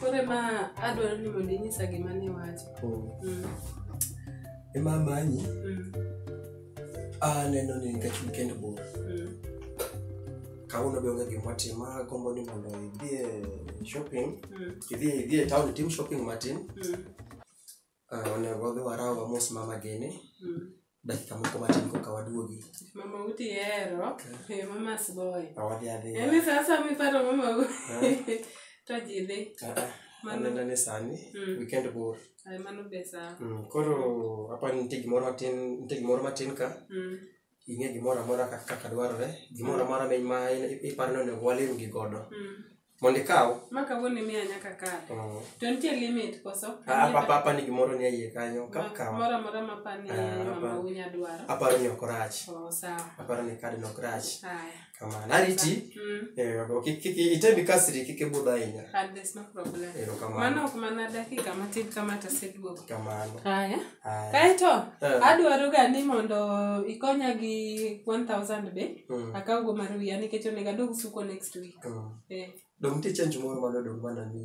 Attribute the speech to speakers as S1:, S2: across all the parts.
S1: Koro
S2: ema adwaro ni mondo inyisa gima niwacho. Oh. Mm. Ema amanyi Mm. aneno ni nikech weekend bor Mm. kawuono be onge gima watimo agombo ni mondo idhi e shopping Mm. idhi idhi e town itim shopping matin Mm. Ah, onego wadhi waraw wamos mama gene Mm. dakika moko matin koka waduogi Mama uti
S1: hero. Eh, Mama sboy. Ah, wadhi adhiya Yaani
S2: sasa miparo
S1: mama u. Eh. To jidhi. Ah, ah. Mano. anena
S2: ni sani Mm. weekend bor Ay mano be sawa. Mm,
S1: koro
S2: apa nitie gimoro matin nitie gimoro matin ka Mm. ing'e gimoro amora kaka kaka dwarore gimoro amora mi- ma in- iparo ni onego walim gi godo Mm. mondo ikaw Ma kawuono imiya nyaka
S1: kar. mm, To nitie limit koso? a- apa- apa- apa ni gimoro
S2: ni eiye kanyo Ma- kakaw Moro amora ma pani
S1: Ah, mama apa- unya dwaro. aparo ni ok orach Oh,
S2: sawa. aparo ni
S1: kadno ok
S2: rach Haya. kamano
S1: ariti Mm.
S2: eh, ok- kik- kik- itebi kasri kik ibudh ahinya And there's no problem.
S1: ero kamano Mano ok mana dakika matin kama taseduogo. kamano Haya.
S2: Haya.
S1: Kaeto Eh. adwaroga ni mondo ikonya gi 1000 be Mm. akawgo mar wiya nikech onego adog suko next week. Mm. Eh. dong nitie
S2: change moro madodong mana ni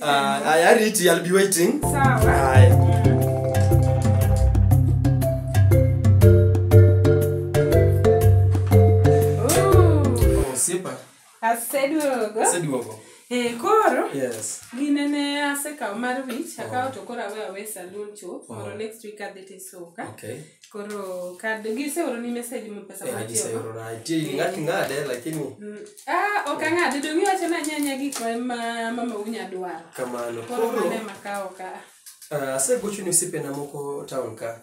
S1: Ah, haya
S2: Riti, I'll be waiting. Sawa.
S1: Haya. Oh, Oh, sipa. aseduogo. Seduogo. Eh, koro Yes. gine
S2: ne asekawo
S1: mar wich akawo to koro awe awe salun chuth mondo next week adhi tisuka Okay. koro
S2: kad
S1: giseoroni message mo pesa Eh, matiyogo giseorona nitie gini ng'ato
S2: ing'ade lakini Mm. ah ok
S1: ang'ade dong' iwacho ni anyanya gik ma ma- mama unya dwaro kamano koro koro mane
S2: makawo
S1: ka ah, asegocho ni
S2: osiepena moko town ka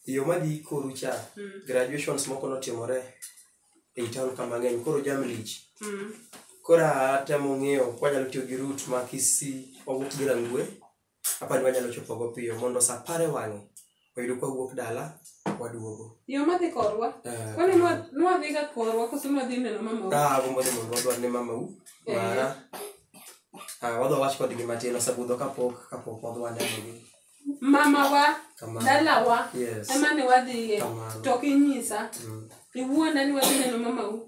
S2: yo madhi koru cha graduations moko notimore ei town ka mang'eny koro jam lich Mm. koro atemo ng'eyo kwanyalo tiyo gi rut ma kisi owuok gi rangwe Apa ni wanyalo chopogo piyo mondo sa apar e wang'e oyudo ka wuok dala waduogo. Yo madhi korwa.
S1: Eh, Kwani nwa nwa dhiga korwa koso nwa dhi neno mama. Ka agombo ni mondo wadwar ne
S2: mama u Eh. mara. Ah, wadwa wach kodgi matin osebudho kapok kapok wadwa nenogi. Mama wa
S1: Kamano. dalawa Yes. ema ne wadhiye Kamano. to kinyisa Mm. iwuonda ni wadhi neno mama u.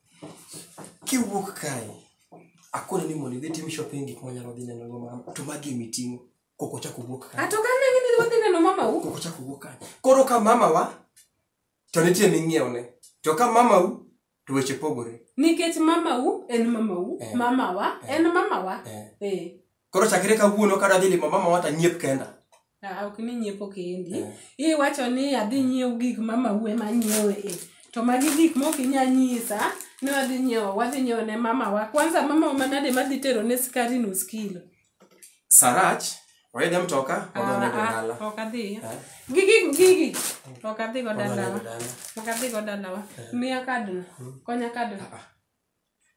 S2: kiwuok kae akone ni mondo idhi tim shopping gik manyalo dhi neno go mama to magi emi ting'o koko chako wuok kae ato kane ng'e ni wadhi neno
S1: mama u koko chako wuok kae
S2: koro ka mama wa to nitie ming'iewo ne to ka mama u to weche pogore nikech mama u
S1: en mama u Eh. mama wa Eh. en mama wa Eh. eh koro
S2: chakre kawuono kadwa dhi limo mama wa to anyiep kenda Ah, ok ni
S1: nyiepo kendi Eh. iwacho ni adhi nyiew gik ma maue ma nyiew e to magi gik mok inya nyisa ni wadhi nyiewo wadhi nyiewo ne mamawa kwanza mamawa manade madhi tero ne skari nus kilo sarach
S2: waidhe mtoka wadhonego Ah, ah, dala ok adhi Eh.
S1: gigi gigi ok adhi go Wadhonego dalawa dala ok adhi go dalawa miya kadno konya kadno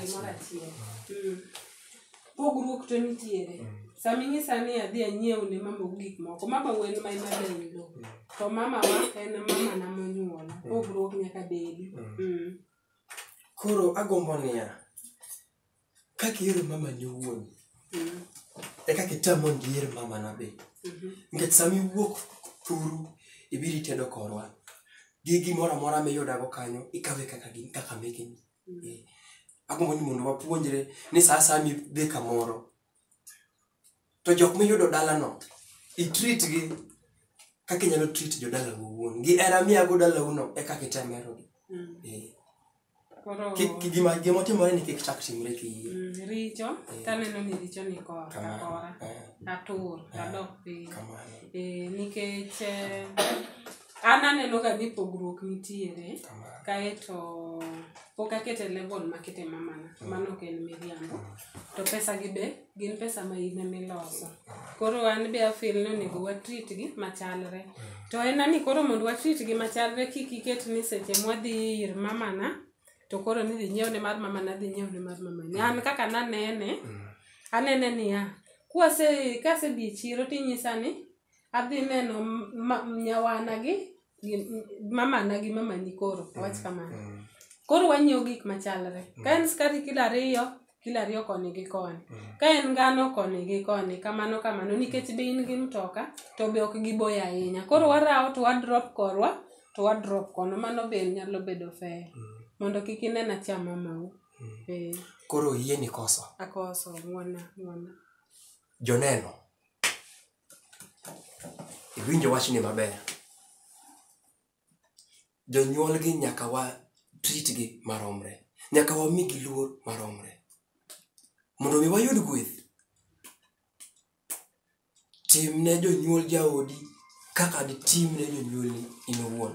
S1: gimoro achiel Mm. pogruok to nitiere sama inyisa ni adhi anyiew ne mama gik moko mama wen ma ema dayudo to mama wa en mama na monyuola pogruok nyaka bedi
S2: Mm. koro agombo niya kaka ihero mamani owuon Mm. e kaka itam mondo iher mamana be Mhm. nikech sama iwuok thuru ibiro itedo korwa gi gimoro amora miyudago kanyo ikawe kaka gin kaka mekeni agombo ni mondo wapuonjre ni saa saa midhi kamoro to jok miyudo dalano itrit gi kaka inyalo trit jodalau owuon gi era miyago dalauno e kaka item herogi mm. eh. gima otimore ni kik chak timre kiyie mm, richo eh.
S1: taneno ni richo ni korakora eh. atur adok piny nikech an aneno ka ni pogruok nitiere kaeto pok akete level makete mamana mm. mano ok en miriambo to pesa gi be gin pesa ma in emiloso koro an be afil ni onego watrit gi machalre mm. to en ani koro mondo watrit gi machalre kik iket ni seche mwadhi ir mamana to koro ni dhi nyiewne mar mamana dhi nyiewne mar mamani an kaka nanene mm. anene niya kwase kasedhi e chiro tinyisa ni Adhi neno ma- nyawana gi gi- mamana gi mamani koro awach kamano Mm. koro wanyiewo gik machalre ka en skari kilo ariyo kilo ariyo koni gi koni ka en ngano koni gi koni kamano kamano nikech be in gi mtoka to be ok giboyo ahinya koro warawo to wadrop korwa to wadrop kono mano be nyalo bedo fair mondo kik inen achama mau eh Koro
S2: yieni koso. akoso ng'wana
S1: ng'wana
S2: Joneno, iwinjo wachni maber. Jonyuolgi nyaka wa tritgi maromre, nyaka wamigi luor maromre. Mondo mi wayud gweth, timne jonyuol jaodi kaka ditimne jonyuolni in iwuon.